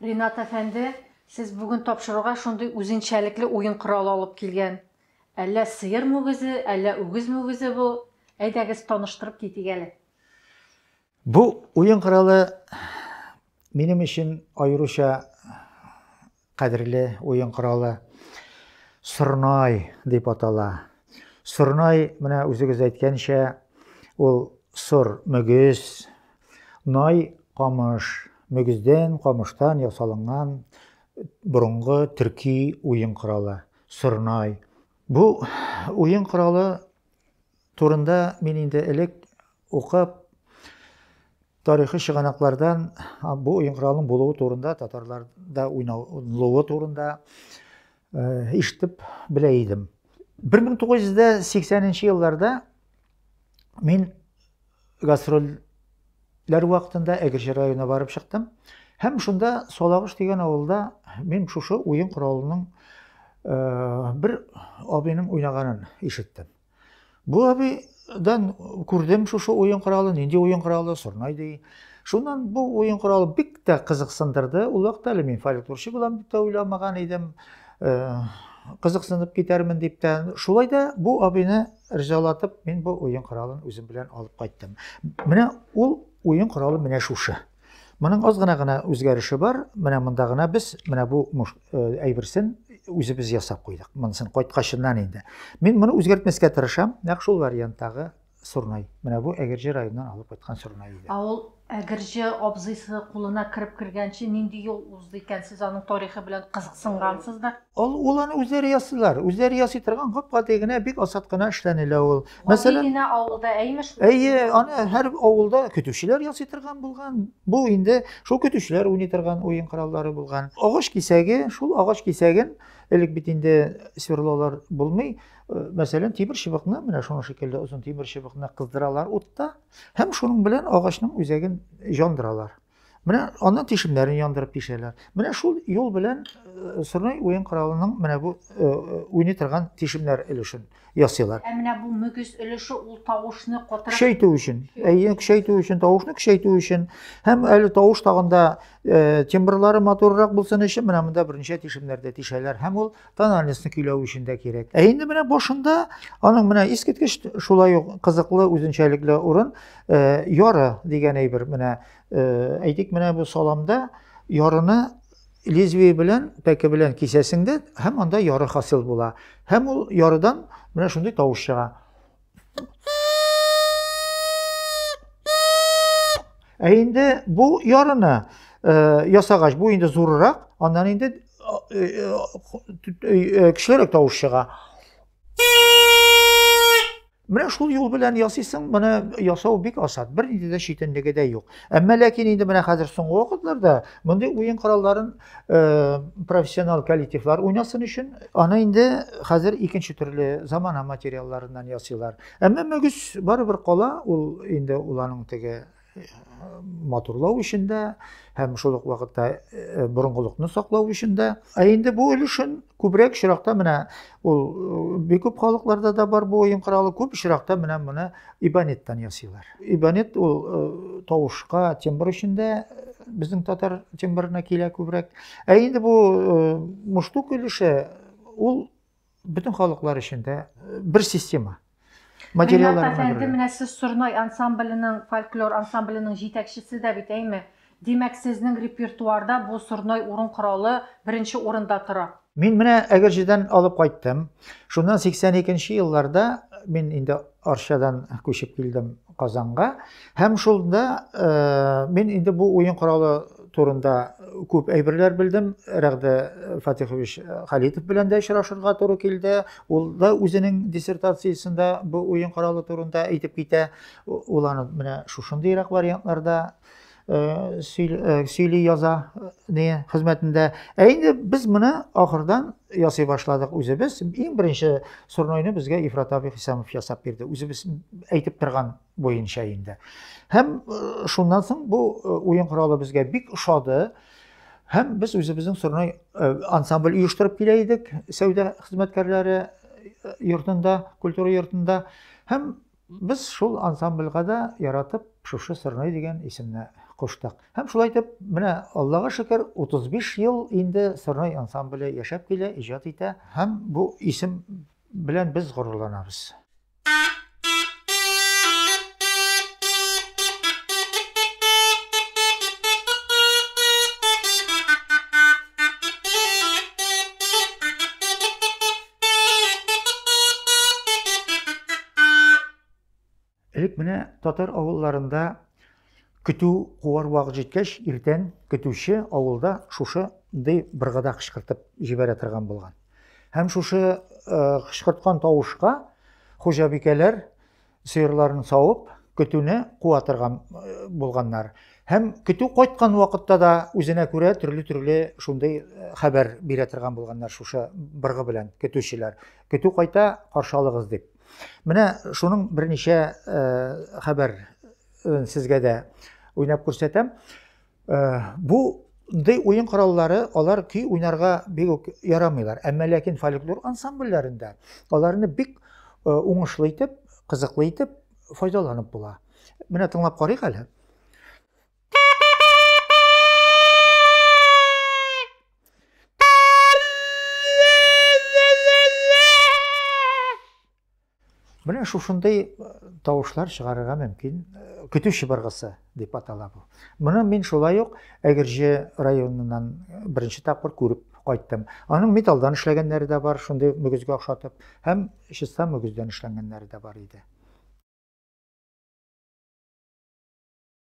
Ринат әфәнде, сез бүген тапшыруга шундый үзенчәлекле уен коралы алып килгән. Әллә сыер мүгезе, әллә үгез мүгезе бу? Әйдәгез, таныштырып китик әле. Бу уен коралы минем өчен аеруча Кадерле уен коралы сорнай дип атала. Сорнай, менә үзегез әйткәнчә, ул сор мөгез, най камыш, мөгездән, камыштан ясалынган борынгы төрки уен коралы сорнай. Бу уен коралы турында мин инде элек укып, тарихи чыганаклардан бу уен коралының булуы турында, татарларда уйналуы турында ишетеп белә идем. 1980 елларда мин гастрольләр вакытында Әгерҗе районына барып чыктым. Һәм шунда Салагыш дигән авылда мин шушы уен коралының бер абыйның уйнаганын ишеттем. Бу абыйдан күрдем шушы уен коралы, нинди уен коралы, сорнай ди. Шуннан бу уен коралы бик тә кызыксындырды. Ул вакытта әле мин фольклорчы булам дип тә уйламаган идем. Э, кызыксынып китәрмен дип тә. Шулай да бу абыйны ризалатып, мин бу уен коралын үзем белән алып кайттым. Менә ул уен коралы менә шушы. Моның аз гына гына үзгәреше бар. Менә монда гына без менә бу э, әйберсен үзебез ясап куйдык. Монысын кайткачыннан инде. Мин моны үзгәртмәскә тырышам. Нәкъ шул варианттагы Сурнай. Менә бу Әгерҗе районыннан алып кайткан Сурнай иде. Ә ул Әгерҗе абзыйсы кулына кереп кергәнче нинди юл узды икән? Сез аның тарихы белән кызыксынгансыздыр? Ул ул аны үзләре ясыйлар. Үзләре ясый торган гап-гади генә бик асат кына эшләнелә ул. Мәсәлән, генә авылда әймеш. Әйе, аны һәр авылда көтүчеләр ясый торган булган. Бу инде шул көтүчеләр уйный торган уен кораллары булган. Агач кисәге, шул агач кисәген элек бит инде сверлолар булмый. Э, мәсәлән, тимер чыбыкны, менә шуның шикелле озын тимер чыбыкны кыздыралар утта һәм шуның белән агачның үзәген җандыралар. Менә аннан тишемнәрен яндырып тишәләр. Менә шул юл белән э, Сырнай уен коралының менә бу э, э, уйный торган тишемнәр өлешен ясыйлар. Ә менә бу мөгез өлеше ул тавышны котырып Көчәйтү өчен, әйе, көчәйтү өчен, тавышны көчәйтү өчен һәм әле тавыш тагында тембрлары матуррак булсын өчен менә монда берничә тишемнәрдә тишәләр һәм ул тональностьны көйләү өчен дә кирәк. Ә инде менә башында аның менә искиткеч шулай ук кызыклы үзенчәлекле урын э, яры дигән әйбер. Менә э, әйтик, менә бу саламда ярыны лезвие белән, пәке белән кисәсең дә, һәм анда яры хасил була. Һәм ул ярыдан менә шундый тавыш чыга. Ә инде бу ярына э, ясагач, бу инде зурырак, аннан инде кешелерәк тавыш чыга. Менә шул юл белән ясыйсың, моны ясау бик асат, бер нинди дә читенлеге дә юк. Әмма ләкин инде менә хәзер соңгы вакытларда мондый уен коралларын Э, профессионал коллективлар уйнасын өчен аны инде хәзер икенче төрле замана материалларыннан ясыйлар әмма мөгез барыбер кала ул инде уланың теге э, матурлау өчен дә һәм шул ук вакытта э, борынгылыкны саклау өчен дә ә инде бу өлешен күбрәк очракта менә Ул бик күп халыкларда да бар бу уен коралы. Күп очракта менә моны ибонеттан ясыйлар. Ибонет ул тавышка, тембр өчен дә безнең татар тембрына килә күбрәк. Ә инде бу муштук өлеше ул бөтен халыклар өчен дә бер система. Материаллар Ренат әфәнде, менә сез Сорнай ансамбленең, фольклор ансамбленең җитәкчесе дә бит, әйме? Димәк, сезнең репертуарда бу Сорнай урын коралы беренче урында тора. Мин менә Әгерҗедән алып кайттым. Шуннан 82 нче елларда мин инде Арчадан күчеп килдем. Казанга һәм шунда мин инде бу уен коралы турында күп әйберләр белдем. Рәгъдә Фатихович Халитов белән дә очрашырга туры килде. Ул да үзенең диссертациясендә бу уен коралы турында әйтеп китә. Ул аны менә шушындыйрак вариантларда сөйли яза не хезмәтендә. Ә инде без моны ахырдан ясый башладык үзебез. Иң беренче сурнойны безгә Ифрат абый Хисамов ясап бирде. Үзебез әйтеп торган буенча инде. Һәм шуннан соң бу уен коралы безгә бик ошады. Һәм без үзебезнең сурной ансамбль оештырып килә идек, сәүдә хезмәткәрләре йортында, культура йортында. Һәм Без шул ансамбльга да яратып Шушы сырной дигән исемне куштык. Һәм шулай итеп, менә Аллага шөкер, 35 ел инде сырной ансамбле яшәп килә, иҗат итә һәм бу исем белән без горурланабыз. Элек менә татар авылларында көтү куар вак җиткәч, иртән көтүче авылда шушы ди быргыда кычкыртып җибәрә торган булган. Һәм шушы э, кычкырткан тавышка хуҗабикәләр Сыерларын савып, көтүне куа торган булганнар. Һәм көтү кайткан вакытта да үзенә күрә төрле-төрле шундый хәбәр бирә торган булганнар шушы быргы белән көтүчеләр. Көтү кайта, каршы алыгыз дип. Менә шуның берничә хәбәр сезгә дә уйнап күрсәтәм. Э, бу Дый уен кораллары алар көй уйнарга бик үк ярамыйлар. Әмма ләкин фольклор ансамбльләрендә аларны бик э, уңышлы итеп, кызыклы итеп файдаланып була. Менә тыңлап карыйк әле. Менә шушындый э, тавышлар чыгарырга мөмкин. Э, көтү чыбыргысы дип атала бу. Моны мин шулай ук Әгерҗе районыннан э, беренче тапкыр күреп кайттым. Аның металдан эшләгәннәре дә бар, шундый мөгезгә охшатып, һәм чиста мөгездән эшләнгәннәре дә бар иде.